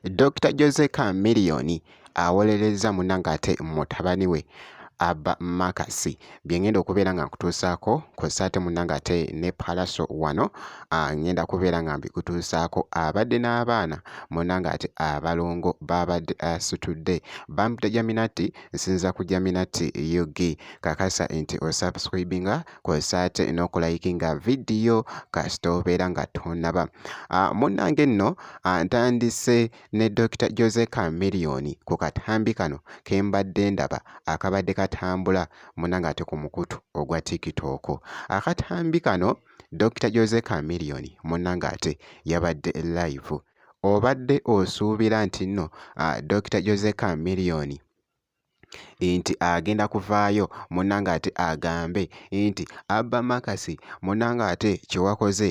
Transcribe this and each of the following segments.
Dr. Jose Chameleone awolerezza munange ate mutabani we Abba Makasi byengenda okubeera nga nkutuusaako kw'ossa ate munnange ate ne Pallaso wano ah, ngenda kubeera nga mbikutuusaako abadde n'abaana munnange ate abalongo baabadde asitudde ah, Bambi Tajaminati nsinza ku jaminati ug kakasa nti osubscribinga kwosa ate n'okulayikinga vidiyo kasita obeera nga tonaba ah, munnange nno ah, ntandise ne dr jose camillion ku katambi kano ke mbadde ndaba akabadde katambula munange ate ku mukutu ogwa tiktok akatambi kano dr jose camillion munnange ate yabadde live obadde osuubira nti nno ah, Dokita Jose Chameleone nti agenda kuvaayo munanga ate agambe nti abba makasi munanga ate kyewakoze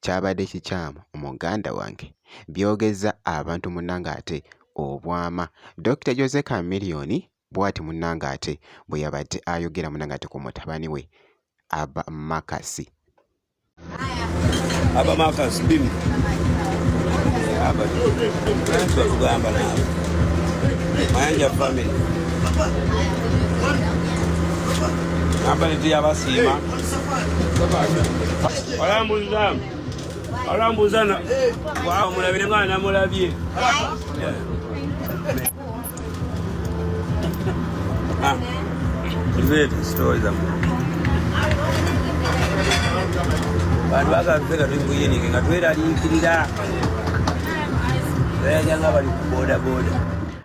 kyabadde kikyamu muganda wange byogezza abantu munanga ate obwama Dokita Jose Chameleone Bwati munange ate bweyabade ayogera munange ate ku mutabani we Aba Makasi. Aba Makasi bim. Aba. Tugamba nabo. Mayanja family. Aba nti yabasiima. Walambuza. Walambuza na. Wa mulabire mwana mulabye. Yeah. Ah, zile story za bantu bakafika tukuyenike nga tweraliikirira tayanja nga bali ku bodaboda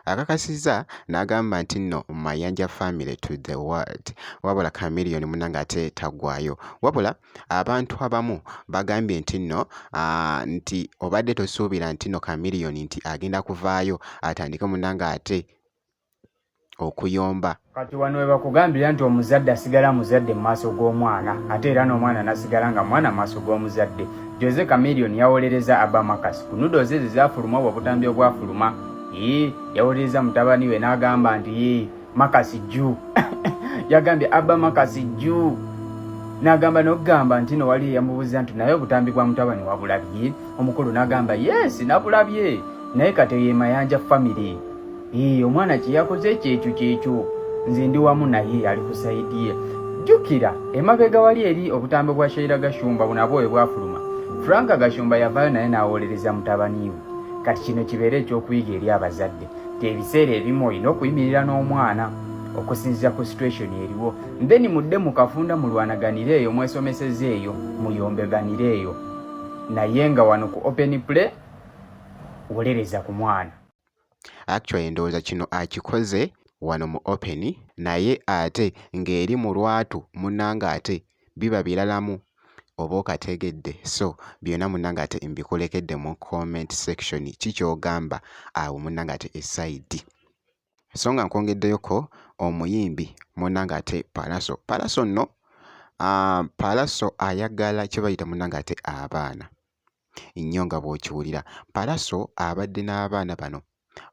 akakasizza n'agamba nti nno mayanja family to the world wabula chameleon munange ate tagwayo wabula Abantu abamu bagambye nti nno nti obadde tosuubira nti nno Chameleone nti agenda kuvaayo atandike munanga ate okuyomba. Kati wano we bakugambira nti omuzadde asigala muzadde mu maaso g'omwana ate era n'omwana nasigala nga mwana mu maaso g'omuzadde. Jose Chameleone yawolereza Abba Marcus ku nudo ze ze zaafuluma obwo obutambi obwafuluma. Yii yawolereza mutabani we n'agamba nti yii makasi juu yagambye abba makasi juu nagamba nokugamba nti no wali yamubuza nti naye obutambi bwa mutabani wabulabye omukulu nagamba yes nabulabye naye kati ye mayanja family ee omwana kyeyakoze kyekyo kyekyo nze ndi wamu naye ali kusaidi ye jukira emabega wali eri obutambi bwa shaira gashumba bunabwo ebwafuluma franka gashumba yavayo naye nawolereza mutabaniwe kati kino kibeere ekyokuyiga eri abazadde ebiseera ebimu olina okuyimirira n'omwana okusinzira ku situation eriwo then mudde mukafunda mulwanaganire eyo mwesomeseza eyo muyombeganire eyo naye nga wano ku open play wolereza ku mwana actually ndowooza kino akikoze wano mu open naye ate ng'eri mu lwatu munanga ate biba bilalamu oba okategedde so byona munange ate mbikulekedde mu comment section ki kyogamba awo munange ate esaidi so nga nkwongeddeyoko omuyimbi munange ate palaso palaso nno ah, palaso ayagala kyebayita munange ate abaana nnyo nga bw'okiwulira. Pallaso abadde n'abaana bano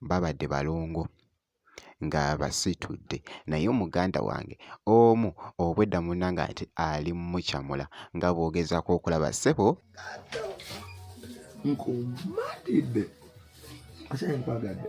babadde balongo nga abasitudde naye omuganda wange omu obwedda munna ng'ate ali mucamula nga bw'ogezaako okulaba ssebo nkumatidde ate nkwagadde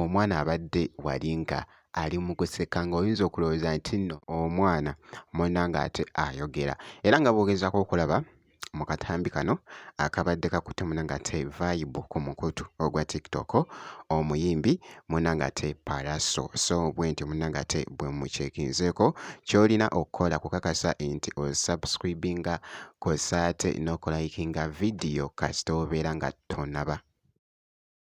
Omwana abadde wali nga ali mu kuseka ng'oyinza okulowooza nti nno omwana munna ng'ate ayogera era nga bw'ogezaako okulaba mu katambi kano akabadde kakutte munna ng'ate vayibu ku mukutu ogwa TikTok omuyimbi munna ng'ate Pallaso so bwentyo munna ng'ate bwe mukyekinzeeko ky'olina okukola kukakasa nti osubscribinga kw'ossa ate n'okulayikinga vidiyo kasita obeera nga tonnaba.